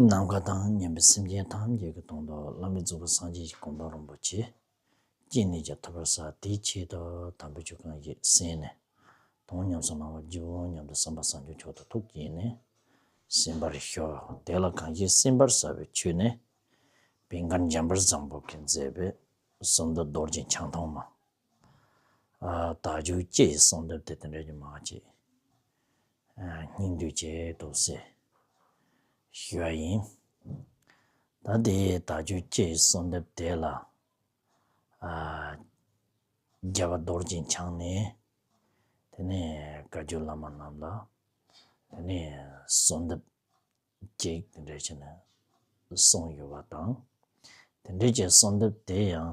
ནམ་མཁའ་དང་མཉམ་པའི་སེམས་ཅན་ཐམས་ཅད་ཀྱི་དོན་དུ་བླ་མེད་རྫོགས་པའི་སངས་རྒྱས་ཀྱི་དགོངས་དོན་རིན་པོ་ཆེ། སྐྱེས་ནས་ཀྱང་ཐོབ་པར་བྱ་དེའི་ཆེད་དུ་དམ་པའི་ཆོས་གང་ཞིག་གསན་ནས། དོན་ཉམས་སུ་བླང་བར་བགྱིའོ་སྙམ་དུ་བསམ་པ་བསམ་བྱུང་མཆོག་ཏུ་ཐུགས་བསྐྱེད་ནས་གསན་པར་ཤོག་དེ་ལ་གང་ཞིག་གསན་པར་བྱ་བའི་ཆོས་ནི། བན་དཀར་འཇམ་དཔལ་བཟང་པོ་གིས་མཛད་པའི་གསུང་འདི་རྡོ་རྗེ་འཆང་ཐོག་མ། དག་འཇུག་སྤྱི་ཡི་གསུང་འདི་དེ་དང་འབྲལ་རྒྱུ་མ་མཆིས། སྙིང་འདོད་ཀྱི་རྡོ་བསྲེག་ཞུ་བ་ཡིན། ད་དེ་ད་ཆོས་སྐྱེས་གསོལ་འདེབས་དེ་ལ། རྒྱལ་བ་རྡོར་སྦྱིན་འཆང་ནས་དེ་ནས་བཀའ་བརྒྱུད་བླ་མ་རྣམས་ལ་དེ་ནས་གསོལ་འདེབས་ཀྱིས་དེ་འདྲས་བྱས་ནས་གསུངས་ཡོད་པ་དང། དེ་འདྲས་ཀྱི་གསོལ་འདེབས་དེ་ཡང་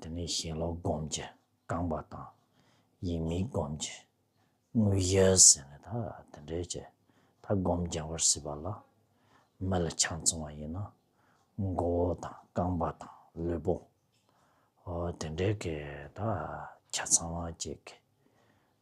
དེ་ནས་ཞེན་ལོག་སྒོམ་གྱི་རྐང་པ་དང། ཡིད་མི་སྒོམ་གྱི་དངོས་གཞི་ཟེར་ནས་ད་དེ་འདྲའི་ཀྱི་ད་སྒོམ་རྒྱག་པར་སྲིད་པ་ལ། མི་ལ་ཆང་འཚང་བ་ཡིན་ན་མགོ་བོ་དང་རྐང་པ་དང་ལུས་པོ། དེ་འདྲའི་ཀྱི་ད་ཆ་ཚང་བ་ཅིག་གི།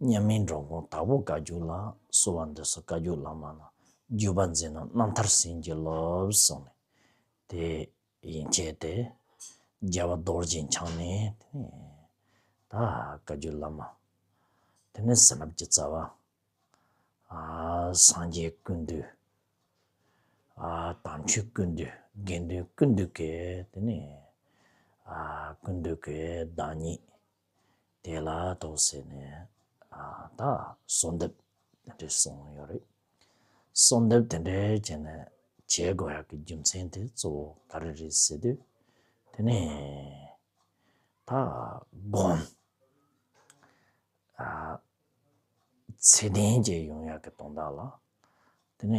མཉམ་མིན་འགྲོ་མགོན་དྭགས་པོ་བཀའ་བརྒྱུད་ལ་གསོལ་བ་འདེབས་སོ་བཀའ་བརྒྱུད་བླ་མ་ལ་བརྒྱུད་པ་འཛིན་ན་རྣམ་ཐར་ཟིན་གྱིས་སློབས་གསུངས་ནས། དེ་ཡིན་བྱས་ཏེ། རྒྱལ་བ་རྡོ་རྗེ་འཆང་ནས། ད་བཀའ་བརྒྱུད་བླ་མ། དེ་ནས་ཟིན་རླབས་ཀྱི་རྩ་བ། སངས་རྒྱས་ཀུན་འདུས། དམ་ཆོས་ཀུན་འདུས་དགེ་འདུན་ཀུན་འདུས་ཀྱི། ཀུན་འདུས་ཀྱི་བདག་ཉིད། དེ་ལ་དོགས་བསད་ནས་ད་གསོལ་འདེབས་དེ་འདྲས་གསུངས་ཡོད་རེད། གསོལ་འདེབས་དེ་འདྲས་བྱས་ནས་བྱེད་དགོས་ཡག་གི་རྒྱུ་མཚན་དེ་གཙོ་བོ་ག་རེ་རེད་ཟེར་དུས། དེ་ནས་ད་དགོངས། ཚད་ལྡན་གྱི་ཡོང་ཡག་གི་དོན་དག་ལ་དེ་ནས།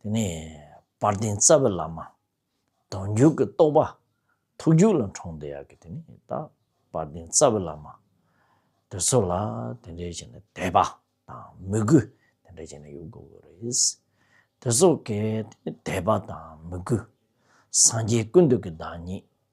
དེ་ནས་དཔལ་ལྡན་རྩ་བའི་བླ་མ། གདོང་མཇུག་གི་རྟོགས་པ། ཐུགས་རྒྱུད་ལ་འཁྲུངས་དེ་ཡག་གི་དེ་ནས་ད། དཔལ་ལྡན་རྩ་བའི་བླ་མ། དེ་ཚོ་ལ་དེ་འདྲའི་བྱས་ནས་དད་པ་དང་མོས་གུས་དེ་འདྲ་བྱས་ནས་ཡོད་དགོས་གི་རེད། དེ་ཚོ་གའི་དད་པ་དང་མོས་གུས། སངས་རྒྱས་ཀུན་འདུས་ཀྱི་བདག་ཉིད།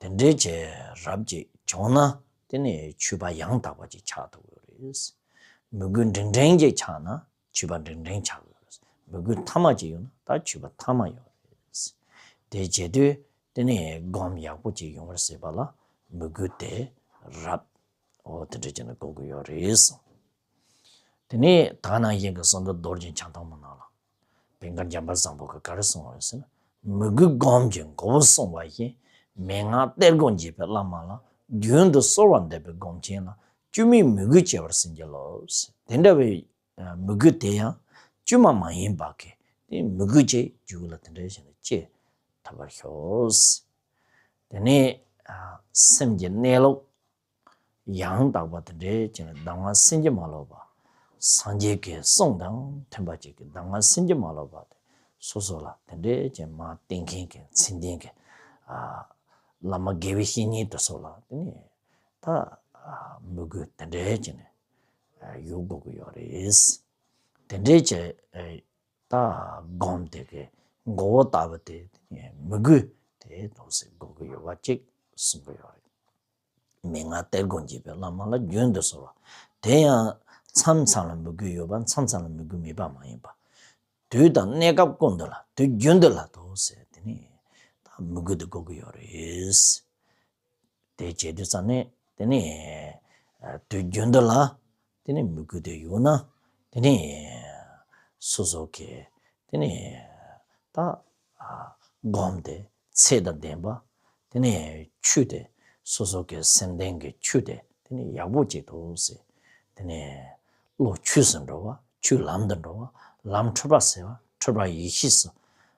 དེ་འདྲའི་བྱས་རབས་ཅིག་བྱུང་ན་དེ་ནི་ཆུད་པ་ཡང་དག་པ་ཅིག་ཆགས་ཐུབ་ཀྱི་རེད། མི་གུས་འབྲིང་འབྲིང་ཅིག་ཆགས་ན་ཆུད་པ་འབྲིང་འབྲིང་ཆགས་ཀྱི་རེད། མི་གུས་མཐའ་མ་ཅིག་ཡོང་ན་ད་ཆུད་པ་མཐའ་མ་ཡོང་གི་རེད། དེ་བྱས་དུས་དེ་ནི་སྒོམ་ཡག་པོ་ཅིག་ཡོང་བར་སྲིད་པ་ལ་མི་གུས་དེ་རབས་འོ་དེ་འདྲ་བྱས་ན་གོ་གི་ཡོད་རེད། དེ་ནས་ད་ནང་བཞིན་གྱི་གསུང་སྒྲ་རྡོར་གྱི་འཆང་ཐང་མོ་ནང་ལ་བན་གར་འཇམ་པ་བཟང་པོ་གི་གར་སྲུང་བ་ཟེར་ན་མི་དགུའི་སྒོམ་གྱི་མགོ་བོ་བསྲུང་བ་བཞིན་མན་ངག་གཏེར་སྒོ་འབྱེད་པའི་བླ་མ་ལ་རྒྱུན་དུ་གསོལ་བ་འདེབས་པའི་སྒོམ་ཆེན་ལ་དཀྱུས་མའི་མི་དགུའི་སྐྱེ་བར་ཟིན་གྱི་ལོས། དེ་འདྲ་བའི་མི་དགུ་དེ་ཡང་དཀྱུས་མ་མ་ཡིན་པ་གི་དེ་མི་དགུ་ཅེས་རྒྱུད་ལ་དེ་འདྲ་བཞིན་དུ་སྐྱེ་ཐུབ་པར་ཤོག། དེ་ནས་སེམས་ཀྱི་གནས་ལུགས། ཡང་དག་པ་དང་འབྲེལ་བྱེད་ཀྱི་གདམས་ངག་སེམས་ཀྱིས་མ་ལོག་པ། སངས་རྒྱས་ཀྱི་གསུང་དང་མཐུན་པར་བྱེད་ཀྱི་གདམས་ངག་སེམས་ཀྱིས་མ་ལོག་པ་སྟེ་སོ་སོ་ལ་དེ་འདྲའི་ཅན་མ་བསྟེན་མཁན་གྱི་མཚན་ལྡན་གྱི་བླ་མ་དགེ་བའི་བཤེས་གཉེན་དུ་སོགས་ལ་དེ་ནི་ད་མི་དགོས་དེ་འདྲའི་ཅན་ཡོད་དགོས་ཀྱི་ཡོད་རེད། དེ་འདྲའི་ཅན་ད་སྒོམ་དེ་གའི་མགོ་བོ་ལྟ་བུ་དེ་མི་དགོས་དེ་དོགས་སེལ་དགོས་ཀྱི་ཡོད་པ་གཅིག་གསུངས་ཀྱི་ཡོད་རེད། མི་ལྔ་སྟེ་སྒོ་འབྱེད་པའི་བླ་མ་ལ་རྒྱུན་དུ་གསོལ་བ། དེ་ཡང། མཚམས་མཚམས་ལ་མི་དགོས་ཡོད་པ་མཚམས་མཚམས་ལ་མི་དགོས་མེད་པ་མ་ཡིན་པར། དུས་དང་གནས་སྐབས་ཀུན་ཏུ་ལ་དུས་རྒྱུན་དུ་ལ་དོ་ཟེར་དེ་ནི། མི་དགོས་དུ་དགོས་ཀྱི་ཡོད་རེད། དེ་བྱེད་དུས་ཙམ་ནས་དེ་ནི། དུས་རྒྱུན་དུ་ལ། དེ་ནི་མི་དགོས་དོན་ཡོད་ན། དེ་ནི་སོ་སོར་གས། དེ་ནི་ད་བསྒོམས་ཏེ་ཚེ་དང་ལྡན་པ། དེ་ནི་ཆུ་སྟེ་སོ་སོར་གས་སེམས་ལྡན་གྱི་ཆུ་སྟེ་དེ་ནི་ཡག་པོ་བྱེད་དོ་ཟེར། དེ་ནི་བློ་ཆོས་སུ་འགྲོ་བ་ཆོས་ལམ་དུ་འགྲོ་བ་ལམ་འཁྲུལ་པ་སེལ་བ་འཁྲུལ་པ་ཡེ་ཤེས་སུ་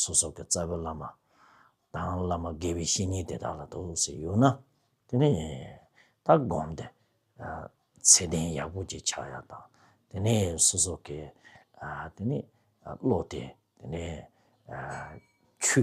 སོ་སོ་གི་རྩ་བའི་བླ་མ་དང་བླ་མ་དགེ་བའི་བཤེས་གཉེན་དེ་དག་ལ་དུ་ཟེར་ཡོད་ན། དེ་ནས་ད་བསྒོམ་སྟེ། ཚད་ལྡན་ཡག་པོ་ཅིག་ཆགས་ཡ་དང། དེ་ནས་སོ་སོ་གི་དེ་ནས་བློ་དེ་དེ་ནས་ཆུ།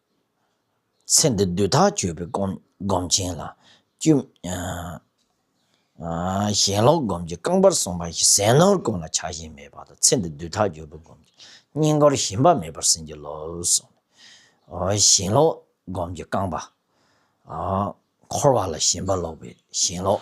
ཚེ་འདི་བདུད་ཐག་གཅོད་པའི་སྒོམ་ཆེན་ལ། ཞེན་ལོག་སྒོམ་གྱི་རྐང་པར་སོང་པ་བཞིན་ཟས་ནོར་ཀུན་ལ་ཆགས་ཞེན་མེད་པར་ཚེ་འདི་བདུད་ཐག་གཅོད་པའི་སྒོམ་ཆེན་སྙིང་པོར་ཞེན་པ་མེད་པར་ཟིན་གྱི་ལོས། ཞེན་ལོག་སྒོམ་གྱི་རྐང་པ། འཁོར་བ་ལ་ཞེན་པ་ལོག་པའི་ཞེན་ལོག།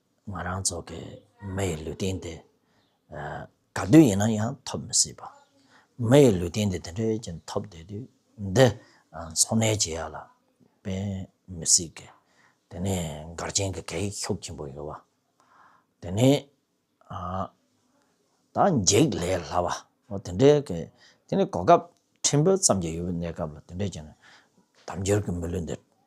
ང་རང་ཚོ་གི་མི་ཡི་ལུས་རྟེན་དེ། ག་དུས་ཡིན་ན་ཡང་ཐོབ་མི་སྲིད་པ། མི་ཡི་ལུས་རྟེན་དེ་དེ་འདྲའི་ཅན་ཐོབ་བསྡད་དུས་འདི་འཚོ་གནས་བྱེད་ཡག་ལ་དཔེན་མི་སྲིད་ཀི། དེ་ནི་སྒར་ཆེན་གི་གད་ཡིག་ཤོག་ཆེན་པོ་ཡོད་བ། དེ་ནི་ད་འགྱིག་ལས་སླ་བ། དེ་འདྲའི་གི་དེ་ནི་གོ་སྐབས་ཕྲན་བུ་ཙམ་གྱི་ཡོད་པའི་གནས་སྐབས་ལ་དེ་འདྲའི་ཅན་དམ་འབྱོར་གྱི་མི་ལུས་འདི།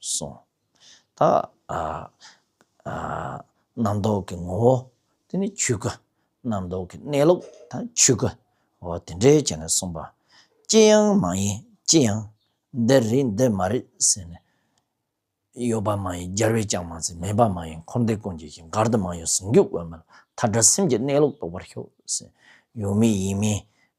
གསུངས། ད་རྣམ་རྟོག་གི་ངོ་བོ་དེ་ནི་ཆོས་སྐུ། རྣམ་རྟོག་གི་གནས་ལུགས་ད་ཆོས་སྐུ། འོ་དེ་འདྲའི་བྱས་ནས་གསུངས་པ། ཅི་ཡང་མ་ཡིན་ཅི་ཡང། འདི་རེད་འདི་མ་རེད་ཟེར་ནས། ཡོད་པ་མ་ཡིན་སྦྱར་བས་ཀྱང་མ་ཚད་མེད་པ་མ་ཡིན་འཁོར་འདས་ཀུན་གྱི་ཞིང་མགར་དུ་མ་ཡོད་ཟུང་འཇུག་དབེན་མོད་མཐའ་བྲལ་སེམས་ཀྱི་གནས་ལུགས་རྟོགས་པར་ཤོག་ཟེར། ཡོད་མིན་ཡིན་མིན་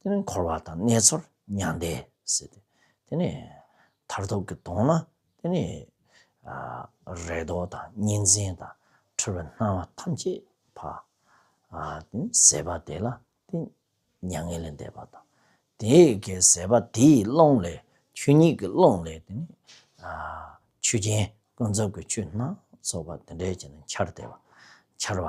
དེ་ནས་འཁོར་བ་དང་ནེ་ཚོར་མྱང་འདས་ཟེར་ཏེ། དེ་ནས་མཐར་ཐུག་གི་དོན་ནི་དེ་ནི། རེ་དོགས་དང་གཉིས་འཛིན་དང་འཁྲུལ་བའི་སྣང་བ་ཐམས་ཅད་བ། དེ་ནི་ཟད་པ་དེ་ལ་དེ་མྱ་ངན་ལས་འདས་པ་དང། དེ་ཀའི་ཟད་པ་དེའི་ཀློང་ལས་ཆོས་ཉིད་ཀྱི་ཀློང་ལས་དེ་ནི། ཆོས་ཅན་ཀུན་རྫོབ་ཀྱི་ཆོས་སྣ་ཚོགས་པ་དེ་འདྲའི་ཆ་ནས་འཆར་བདེ་བ་འཆར་བ།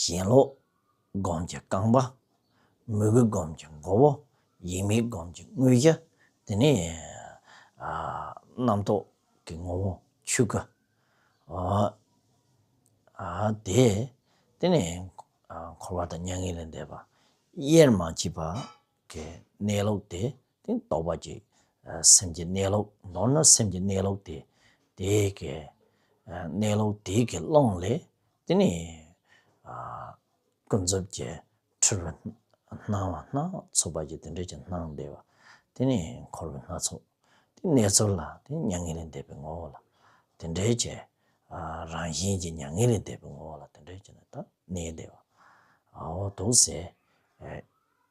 ཞེན་ལོག་སྒོམ་གྱི་རྐང་པ། མོས་གུས་སྒོམ་གྱི་མགོ་བོ། ཡིད་མེད་སྒོམ་གྱི་དངུལ་རྒྱ། དེ་ནས་རྣམ་རྟོག་གི་ངོ་བོ་ཆོས་སྐུ། དེ་ནས་འཁོར་བ་དང་མྱ་ངན་ལས་འདས་པ་དབྱེར་མ་མཆིས་པ། གནས་ལུགས་དེ། དེ་རྟོགས་པ་ཅིག། སེམས་ཀྱི་གནས་ལུགས་མདོར་ན་སེམས་ཀྱི་གནས་ལུགས་དེ། དེ་ཀའི་གནས་ལུགས་དེ་ཀའི་ཀློང་ལས། དེ་ནི་ཀུན་རྫོབ་ཀྱི་འཁྲུལ་བའི་སྣང་བ་སྣ་ཚོགས་པ་ཀྱི་དེ་འབྲས་ཀྱི་སྣང་བདེ་བ། དེ་ནི་འཁོར་བའི་སྣ་ཚོགས་དེ་གནས་ཚུལ་ལ་དེ་མྱ་ངན་ལས་འདས་པའི་ངོ་བོ་ལ། དེ་འབྲས་ཀྱི་རང་བཞིན་གྱི་མྱ་ངན་ལས་འདས་པའི་ངོ་བོ་ལ་དེ་འབྲས་ཀྱི་ནི་དང་གནས་བདེ་བའོ། དུག་སེལ།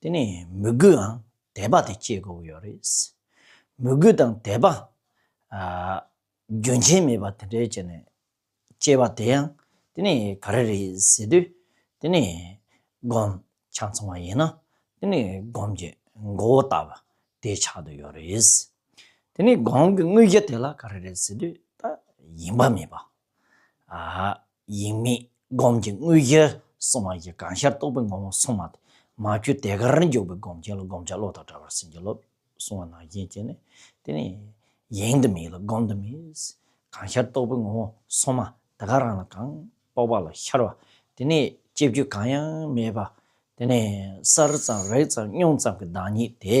དེ་ནས་མོས་གུའང་དད་པ་དེ་སྐྱེ་དགོས་ཡོད་རེད། མོས་གུ་དང་དད་པ་རྒྱུན་ཆད་མེད་པ་དེ་འདྲའི་བྱས་ནས་སྐྱེ་བ་དེ་ཡང་དེ་ནི་ག་རེ་རེད་ཟེར་དུས་དེ་ནི་སྒོམ་ཆ་ཚང་བ་ཡིན་ན་དེ་ནི་སྒོམ་གྱི་མགོ་བོ་ལྟ་བུ་དེ་ཆགས་འདུག་ཡོད་རེད། དེ་ནི་སྒོམ་གྱི་དངོས་རྒྱུ་དེ་ལ་ག་རེ་རེད་ཟེར་དུས་ད་ཡིན་པ་མིན་པ་ཡིན་མིན་སྒོམ་གྱི་དངོས་གཞིར་སོང་བ་ཡི་གང་ཤར་རྟོགས་པའི་ངོ་བོ་སོང་མ་ཐག་མ་རྒྱུད་དེ་གར་འཇོག་པའི་སྒོམ་ཆེན་ལ་བསྒོམ་བྱ་བློ་དང་བྲལ་བར་ཟིན་གྱི་ལོབས་སོང་བ་ནང་བཞིན་བྱས་ནས་དེ་ནས་ཡེངས་དུ་མེད་ལ་སྒོམ་དུ་མེད། གང་ཤར་རྟོགས་པའི་ངོ་བོ་སོང་མ་ཐག་ག་རང་ལ་གང་རྟོགས་པ་ལ་ཤར་བ་དེ་ནས་སྐྱེ་བརྒྱུད་གང་ཡང་མེད་པ་དེ་ནས་གསར་ཙམ་རེག་ཙམ་སྙོམས་ཙམ་གྱི་བདག་ཉིད་དེ།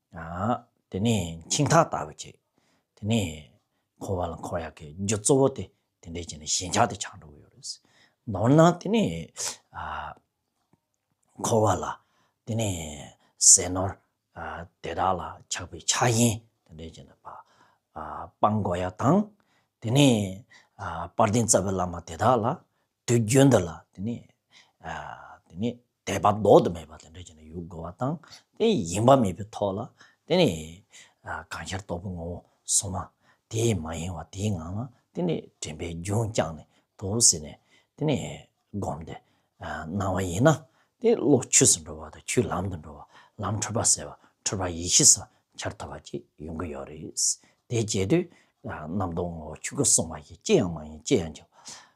དེ་ནས་འཆིང་ཐག་ལྟ་བུ་བྱེད། དེ་ནས་འཁོར་བ་ལ་འཁོར་ཡག་གི་རྒྱུ་གཙོ་བོ་དེ་དེ་འདྲས་བྱས་ནས་ཞེན་ཆགས་དེ་ཆགས་འགྲོ་གི་ཡོད་རེད། མདོར་ན་དེ་ནས་འཁོར་བ་ལ་དེ་ནས་ཟས་ནོར་དེ་དག་ལ་ཆགས་པའི་ཆགས་ཞེན་དེ་འདྲས་བྱས་ནས་སྤང་དགོས་ཡག་དང། དེ་ནས་དཔལ་ལྡན་རྩ་བའི་བླ་མ་དེ་དག་ལ་དུས་རྒྱུན་འདི་ལ་དེ་ནི་དེ་ནི་དད་པ་ཟློག་ཏུ་མེད་པ་དེ་འདྲ་ཅན་ཡོད་དགོས་པ་དང་དེ་ཡིན་པ་མེད་པའི་ཐོག་ལ་དེ་ནི་གང་ཤར་རྟོགས་པའི་ངོ་བོ་སོ་མ་དེ་མ་ཡིན་བ་དེའི་ངང་ལ་དེ་ནི་དྲན་པའི་རྒྱུན་བསྐྱངས་ནས་དོ་ཟེར་ནས་དེ་ནི་བསྒོམས་ཏེ་སྣང་བ་ཡིན་ན་དེ་བློ་ཆུད་ཟིན་འགྲོ་བ་དང་ཆུད་ལམ་དུ་འགྲོ་བ་ལམ་འཁྲུལ་པ་ཟེར་བ་འཁྲུལ་པ་ཡེ་ཤེས་སམ་འཆར་ཐོབ་པ་བཅས་ཡོང་གི་ཡོད་རེད། དེ་བྱས་དུས་རྣམ་རྟོག་ངོ་བོ་ཆོས་སྐུ་གསུང་བ་ཡིས་ཅི་ཡང་མ་ཡིན་ཅི་ཡང་བྱ་བ